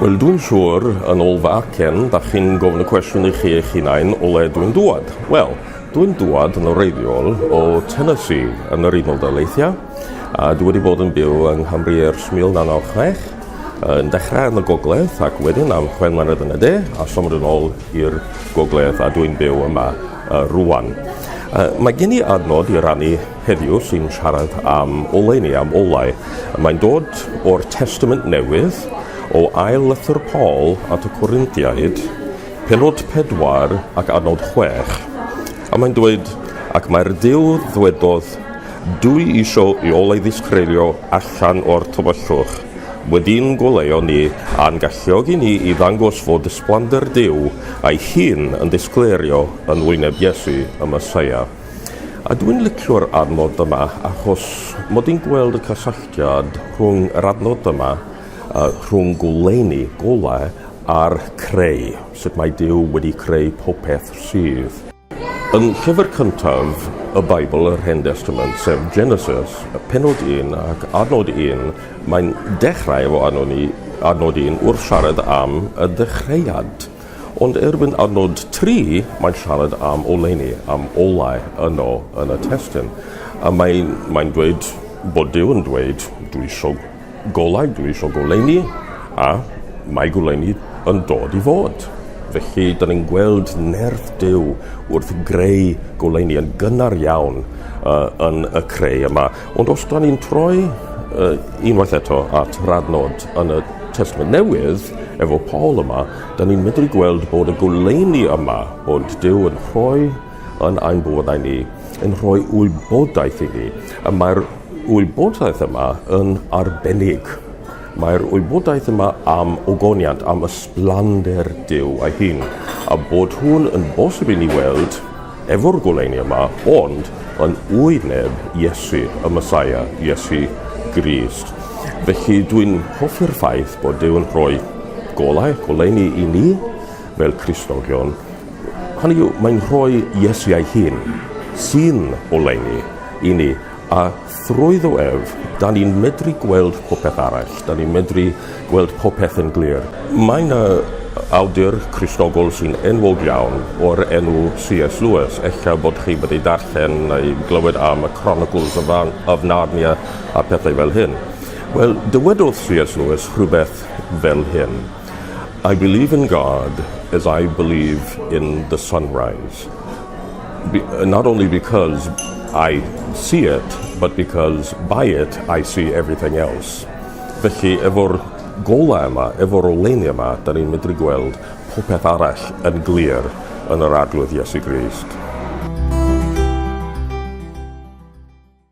Wel, dwi'n siŵr, yn ôl fy acen, da chi'n gofyn y cwestiwn i chi eich hunain o le dwi'n dŵad. Wel, dwi'n dŵad yn oreiddiol o Tennessee yn yr Unol Daleithiau, a dwi wedi bod yn byw yng Nghymru ers 1996, yn dechrau yn y gogledd ac wedyn am chwe mlynedd yn y de a symud yn ôl i'r gogledd a dwi'n byw yma uh, rwan. Uh, mae gen i adnod i rannu Heddiw sy'n siarad am oleuni, am olau. Mae'n dod o'r Testament Newydd, o ail lythyr Paul at y Corinthiaid, pennod pedwar ac adnod chwech. A mae'n dweud, Ac mae'r Duw ddwedodd, Dwi isio i olau ddisgreulio allan o'r tywyllwch. Wedi'n goleuo ni a'n galluogi ni i ddangos fod ysblander Duw a'i hun yn disgleirio yn wyneb Iesu, y Meseia. A dwi'n licio'r adnodd yma achos mod i'n gweld y cysylltiad rhwng yr adnodd yma a rhwng goleuni, golau, a'r creu, sut mae Duw wedi creu popeth sydd. Yn llyfr cyntaf y Beibl, yr Hen Destament, sef Genesis, penod 1 ac adnod 1, mae'n dechrau efo adnod 1 wrth siarad am y dechreuad. Ond erbyn adnod tri, mae'n siarad am oleuni, am olau yno yn y testun. A mae'n, mae'n dweud bod Duw yn dweud, dwi isio golau, dwi isio goleuni, a mae goleuni yn dod i fod. Felly, da ni'n gweld nerth Duw wrth greu goleuni yn gynnar iawn uh, yn y creu yma. Ond os da ni'n troi uh, unwaith eto at radnod yn y Testament Newydd, efo Paul yma, da ni'n medru gweld bod y goleini yma, bod Dyw yn rhoi yn ein bywydau ni, yn rhoi wybodaeth i ni. Y mae'r wybodaeth yma yn arbennig. Mae'r wybodaeth yma am ogoniant, am ysblander Duw a'i hun, a bod hwn yn bosib i ni weld efo'r goleuni yma, ond yn wyneb Iesu, y Mesaia, Iesu Grist. Felly dwi'n hoffi'r ffaith bod Duw yn rhoi golau, goleuni i ni fel Christogion. Hynny yw, mae'n rhoi Iesu ei hun sy'n oleuni i ni, a Trwyddo ef, dan ni'n medru gweld popeth arall, dan ni'n medru gweld popeth yn glir. Mae yna awdur Cristnogol sy'n enwog iawn o'r enw C.S. Lewis, ella bod chi wedi darllen neu glywed am y Chronicles of, Nar of Narnia a pethau fel hyn. Wel, dywedodd C.S. Lewis rhywbeth fel hyn. I believe in God as I believe in the sunrise. Be not only because I see it, but because by it I see everything else. Felly, efo'r golau yma, efo'r oleuni yma, da ni'n medru gweld popeth arall yn glir yn yr Arglwydd Iesu Grist.